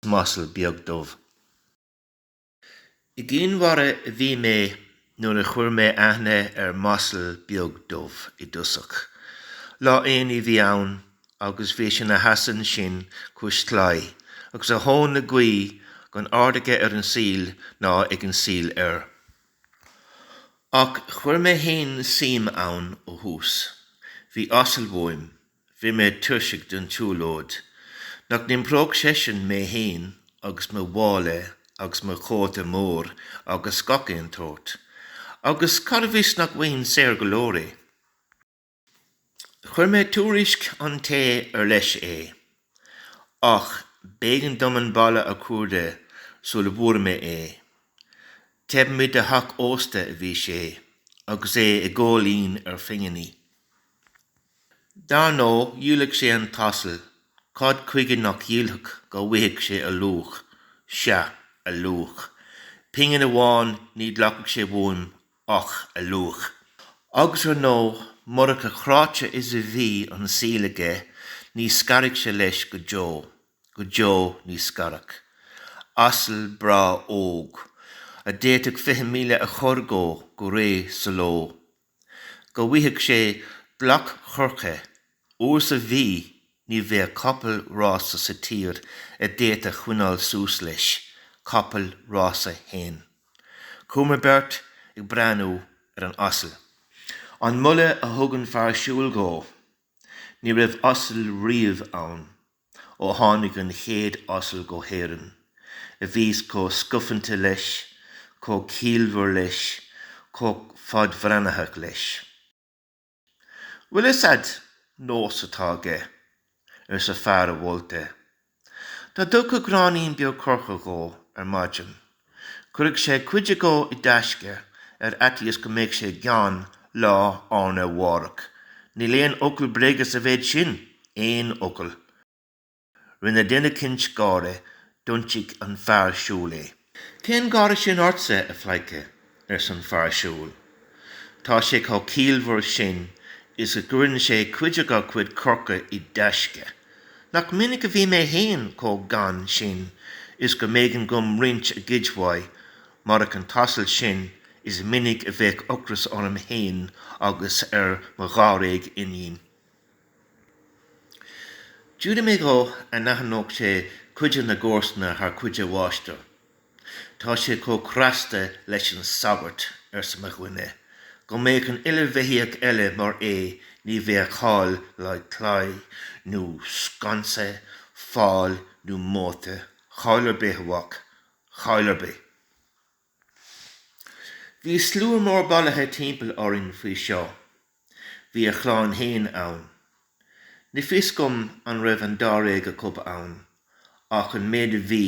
m'asal beag dubh. I gCinn Mhara a bhí mé nuair a chuir mé aithne ar m'asal beag dubh i dtosach. Lá aonaigh a bhí ann agus bhí sé ina sheasamh ansin cois claí agus a thóin le gaoith gan aird aige ar an saol ná ag an saol air. Ach chuir mé fhéin suim ann ó thús. Bhí asal uaim. Bhí mé tuirseach den tsiúlóid. Nach n-iompródh seisean mé fhéin agus mo mhála agus mo chóta mór agus gach aon tsórt. Agus cárbh fhios nach bhfaighinn saor go leor é. Chuir mé tuairisc an té ar leis é. Ach b'éigean dom an baile a chuardach sula bhfuair mé é. Taobh amuigh de theach ósta a bhí sé, agus é ag gabháil fhoinn ar phinginí. Dar ndó, dhíolfadh sé an t-asal, cad chuige nach ndíolfadh, dá bhfaigheadh sé a luach, sea, a luach, pingin amháin ní ghlacfadh sé uaim ach a luach. Agus ar ndó, murach a chráite is a bhí an saol aige, ní scarfadh sé leis go deo, go deo ní scarfadh. Asal breá óg, a d'fhéadfadh fiche míle a chur dhó go réidh sa ló. dá bhfaigheadh sé glac choirce, uair sa mhí ní bheadh capall rása sa tír a d'fhéadfadh a choinneál suas leis, capall rása fhéin. Chuamar beirt ag breathnú ar an asal. An moladh a thug an fear siúil dhó, ní raibh asal riamh ann. ó tháinig an chéad asal go hÉirinn, a bhí chomh scafánta leis, chomh ciallmhar leis, chomh fadbhreathnaitheach leis. Bhfuil a fhios agat nós atá aige, arsa fear a mholta. Dá dtabharfá gráinnín beag coirce dhó ar maidin. Chuirfeadh sé cuid dhó i dtaisce ar fhaitíos go mbeadh sé gann lá arna mháireach. Níl aon fhocal bréige sa mhéid sin, aon fhocal. Rinne duine eicínt gáire, d'ionsaigh an fear siúil é. Cén gáire sin ortsa, a phleidhce, arsa an fear siúil. Tá sé chomh ciallmhar sin is go gcuireann sé cuid dá chuid coirce i dtaisce. Nach minic a bhí mé fhéin chomh gann sin is go mb'éigean dhom roinnt a ghoid uaidh, marach an t-asal sin is minic a bheadh ocras orm fhéin agus ar mo dháréag iníon. D'fhiafraigh mé dhó an aithneodh sé cuid na gcomharsana thar cuid a mháistir. Tá sé chomh cneasta leis an sagart, arsa mo dhuine, dhá mbeadh an uile bheithíoch eile mar é ní bheadh call le claí nó sconsa, fál nó móta, call ar bith, a mhac, call ar bith. Bhí slua mór bailithe timpeall orainn faoi seo. Bhí a chlann fhéin ann. Ní fios dhom an raibh an dáréag acub ann ach an méid a bhí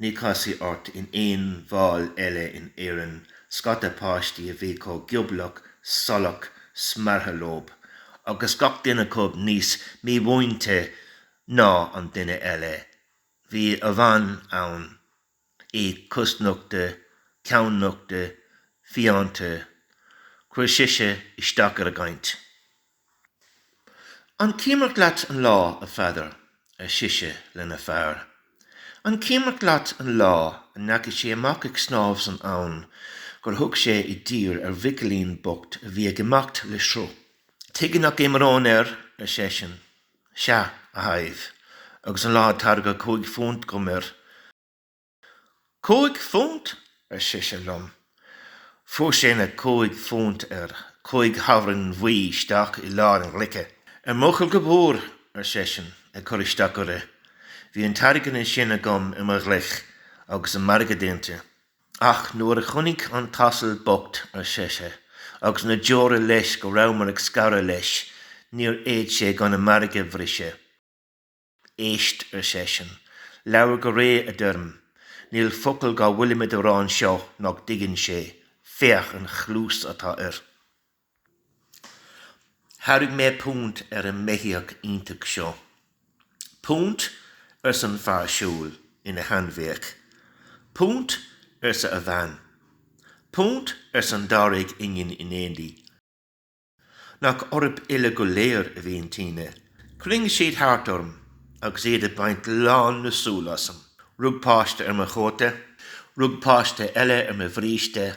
ní chasfaí ort in aon bhall eile in Éirinn scata páistí a bhí chomh gioblach salach smeartha leob agus gach duine acub níos mímhúinte ná an duine eile. Bhí a bhean ann. í cosnochta, ceann-nochta, fiánta, chuir sise isteach ar a' gcainnt. An cuimhneach leat an lá, a Pheadair, ar sise le n-a fear, an cuimhneach leat an lá a ndeachaidh sé amach ag snámh san abhainn gur thug sé i dtír ar Mhicilín bocht a bhí ag imeacht le sruth. Tuige nach gcuimhneoinn air, ar seisean. Sea, a Shadhbh, agus an lá a tairgeadh cúig phúnt dhom air. Cúig phúnt! ar sise liom. Fuair sé na cúig phúnt air, cúig shabhrain bhuí isteach i lár a ghlaice. Ar m'fhocal go bhfuair, ar seisean, ag cur isteach uirre. Bhí an t-airgead ansin agam i mo ghlaic agus an margadh déanta. Ach nuair a chonaic an t-asal bocht, ar sise, agus na deora leis go rabhamar ag scaradh leis, níor fhéad sé gan an margadh a bhriseadh. Éist, ar seisean. Labhair go réidh, a deirim. Níl focal dhá bhfuilimid a rá anseo nach dtuigeann sé. Féach an chluas atá air. Thairg mé púnt ar an mbeithíoch iontach seo. Púnt? arsa an fear siúil ina sheanbhéic. Púnt? arsa a bhean. Púnt? arsa an dáréag inghin in éindí. Nach orthub uile go léir a bhí an t-ionadh! Chruinnigh siad thart orm agus iad ag baint lán na súl asam. Rug páiste ar mo chóta, rug páiste eile ar mo bhríste,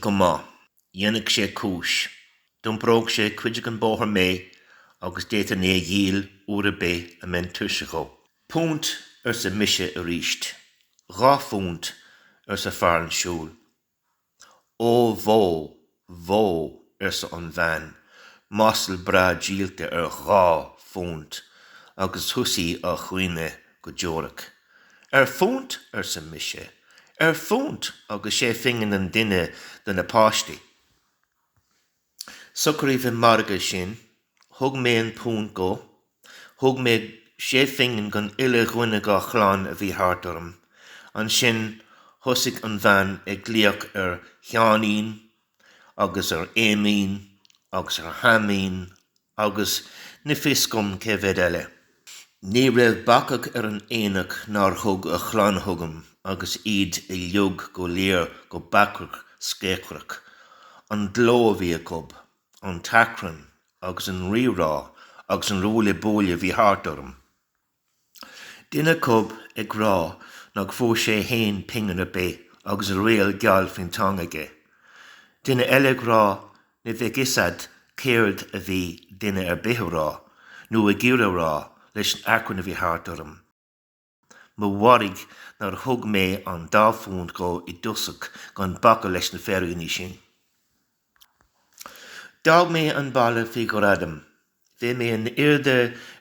go maith. Dhéanfadh sé cúis. D'iompródh sé cuid den bhóthar mé agus d'fhéadfainn é a dhíol uair ar bith a mbeinn tuirseach dhó. Púnt, arsa mise aríst. Dhá phúnt, arsa fear an siúil. Ó bhó, bhó, arsa an bhean, m'asal breá díolta ar dhá phúnt, agus thosaigh á chaoineadh go deorach. Ar phúnt, arsa mise. Ar phúnt agus sé phingin an duine do na páistí. Socraíodh an margadh sin. Thug mé an púnt dhó. Thug mé sé phingin dhon uile dhuine dhá chlann a bhí thart orm. Ansin thosaigh an bhean ag glaoch ar Sheáinín agus ar Éimín agus ar Thaimín Agus ní fios dhom cé mhéid eile. Ní raibh bacach ar an aonach nár thug a chlann chugam agus iad uiliug go léir go bagrach scréachach. An gleo a bhí acu, an t-achrann agus an rí-rá agus an ruaille buaille a bhí thart orm. Duine acub ag rá nach bhfuair sé fhéin pingin a' bith agus an réal geal faoin teanga aige. Duine eile ag rá ní bheadh 'fhios a'd céard a bhí duine ar bith a' rá, nó ag iarraidh a rá, leis an achrann a bhí thart orm. Mo mhairg nár thug mé an dá phunt dhó i dtosach gan bacadh leis na féiríní sin. D'fhág mé an baile faoi ghradam. Bhí mé in airde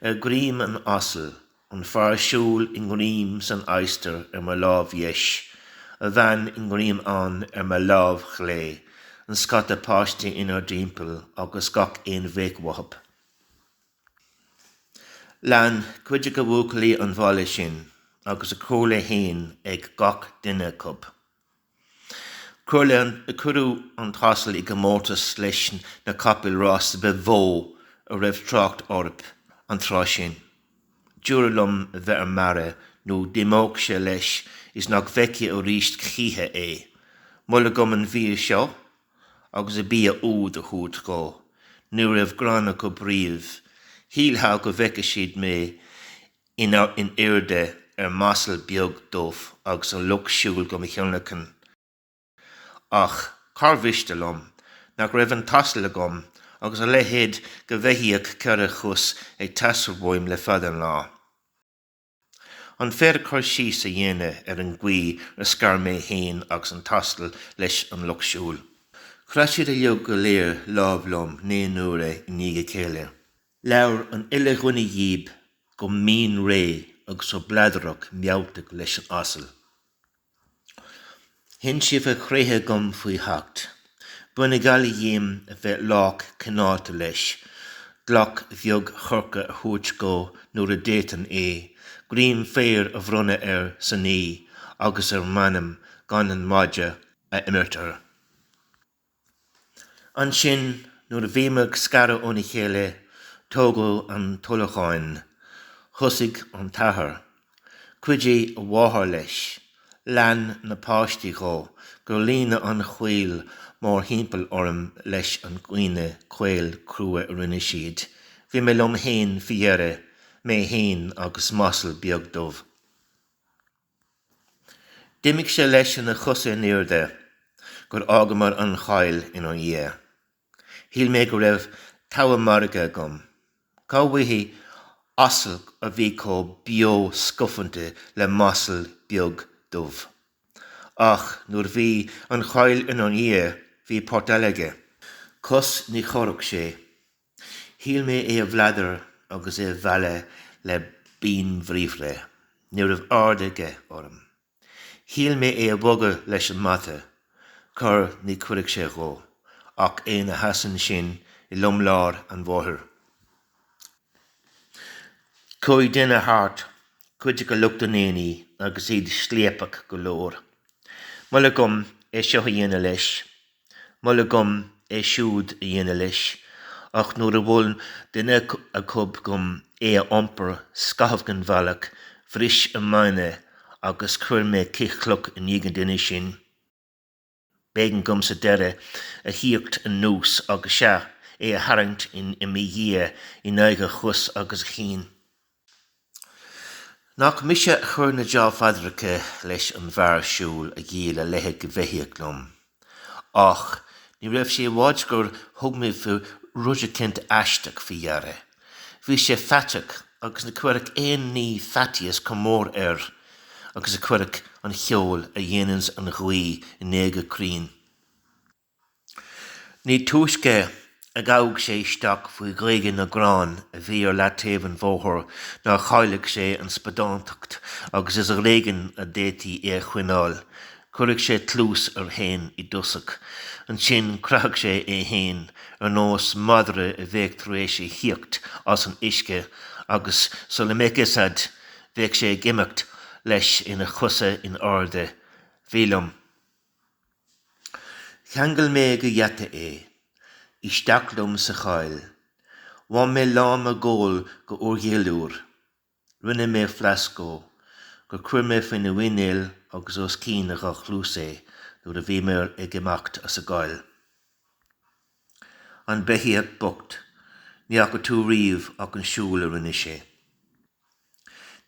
ar dhroim an asail, an fear ag siúl i ngreim san adhastar ar mo lámh dheis, a bhean i ngreim ann ar mo lámh chlé, an scata páistí inár dtimpeall agus gach aon bhéic uathab. Lean cuid de bhuachaillí an bhaile sinn agus a gcomhairle fhéin ag gach duine acu. Cuireadh an t-asal i gcomórtas leis na capaill rása ba mhó a raibh trácht orthu an tráth sin. Dúradh liom a bheith ar m'aire nó d'imeodh sé leis is nach bhfeicfí aríst choíche é. Moladh dom an bia seo agus an bia úd a thabhairt dhó. Ní raibh greann acu riamh. Shíltheá go bhfeicfeadh siad mé in airde ar m'asal beag dubh agus an lucht siúil go mo thionlacan. Ach cár mhiste liom nach raibh an t-asal agam agus a leithéid de bheithíoch ceithre chos ag teastáil uaim le fada an lá. An féidir cur síos a dhéanamh ar an gcaoi ar scar mé fhéin agus an t-asal leis an lucht siúil? Chraith siad uilig go léir láimh liom naoi n-uaire i ndiaidh a chéile. Labhair an uile dhuine dhíob go mín réidh agus go bladarach mealltach leis an asal. Hinsíodh a thréithe dhom faoi sheacht. Baineadh gealladh dhíom a bheith lách cineálta leis, glac bheag choirce a thabhairt dhó nuair a d'fhéadfainn é, greim féir a bhronnadh air san oíche agus ar m'anam gan an maide a imirt air. Ansin nuair a bhí muid ag scaradh óna chéile tógadh an t-olagón. Thosaigh an t-athair. Chuidigh an mháthair leis. Lean na páistí dhó gur líonadh an choill mórthimpeall orm leis an gcaoineadh caol crua a rinne siad. Bhí mé liom fhéin faoi dheireadh, mé fhéin agus m'asal beag dubh. D'imigh sé leis ina chosa in airde gur fhágamar an choill inár ndiaidh. Shíl mé go raibh togha margaidh agam. Cá bhfaighfí asal a bhí chomh beo scafánta le m'asal beag dubh? Ach nuair a bhí an choill inár ndiaidh bhí port eile aige. Cos ní chorródh sé. Shíl mé é a bhladar agus é a mhealladh le binnbhriathra. Ní raibh aird aige orm. Shíl mé é a bhogadh leis an mbata. Cor ní chuirfeadh sé dhó, ach é 'na sheasamh ansin i lomlár an bhóthair. Chuaigh daoine thart, cuid de lucht an aonaigh agus iad scléipeach go leor. Moladh dhom é seo a dhéanamh leis. Moladh dhom é siúd a dhéanamh leis, ach nuair a mhol duine acu dhom é a iompar scaitheamh den bhealach, bhris ar m'fhoighne agus chuir mé cith cloch i ndiaidh an duine sin. B'éigean dhom sa deireadh a thíocht anuas agus, sea, é a tharraingt i mo dhiaidh in aghaidh a chos agus a chinn. Nach mise a chuir na dea-phaidreacha leis an bhfear siúil a dhíol a leithéid de bheithíoch liom. Ach ní raibh sé i bhfad gur thug mé faoi rud eicínt aisteach faoi deara. Bhí sé faiteach agus ní chuirfeadh aon ní faitíos chomh mór air agus a chuirfeadh an cheol a dhéananns an ghaoth i ngéaga crainn. Ní túisce a ghabhadh sé isteach faoi ghéaga na gcrann a bhí ar leataobh an bhóthair ná chailleadh sé an spadántacht agus is ar éigean a d'fhéadfaí é a choinneáil. Chuirfeadh sé cluas air féin i dtosach. Ansin chraithfeadh sé é féin ar nós madra a bheadh tar éis a thíocht as an uisce agus sula mbeadh fhios a'd bheadh sé ag imeacht leis ina chosa in airde. Bhí liom. Cheangail mé de gheata é. Isteach liom sa choill. Bhain mé lán mo ghabháil de úrdhuilliúr. Rinne mé fleasc dhó gur chuir mé faoina mhuineál agus os cionn a dhá chluas é nuair a bhí mé ag imeacht as an gcoill. An beithíoch bocht, ní fhaca tú riamh ach an siúl a rinne sé.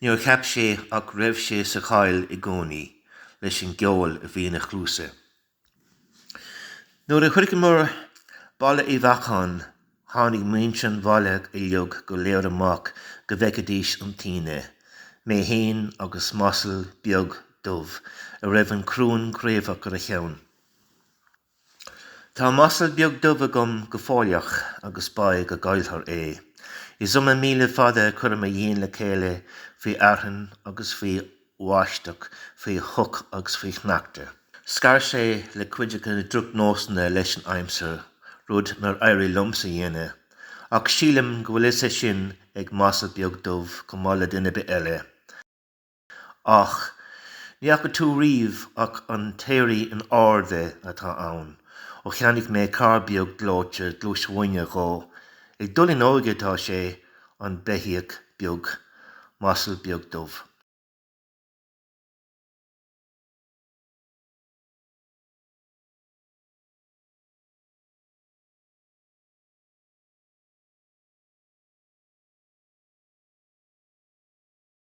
Níor cheap sé ach go raibh sé sa choill i gcónaí leis an gceol a bhí ina chluasa. Nuair a shroicheamar Baile Uí Bheacháin tháinig muintir an bhaile uilig go léir amach go bhfeicfidís an t-ionadh, mé fhéin agus m'asal beag dubh a raibh an choróin chraobhach ar a cheann. Tá m'asal beag dubh agam go fóilleach agus beidh go gcailltear é. Is iomaí míle fada a chuireamar dhínn le chéile faoi fhearthainn agus faoi bháisteach, faoi shioc agus faoi shneachta. Scar sé le cuid de na drochnósanna leis an aimsir, rud nár éirigh liomsa a dhéanamh, ach sílim go bhfuil a fhios sin ag m'asal beag dubh chomh maith le duine ar bith eile. Ach ní fhaca tú riamh ach an t-éirí in airde atá ann ó cheannaigh mé carr beag gleoite glasuaine dhó. Ag dul in óige atá sé, an beithíoch beag, m'asal beag dubh.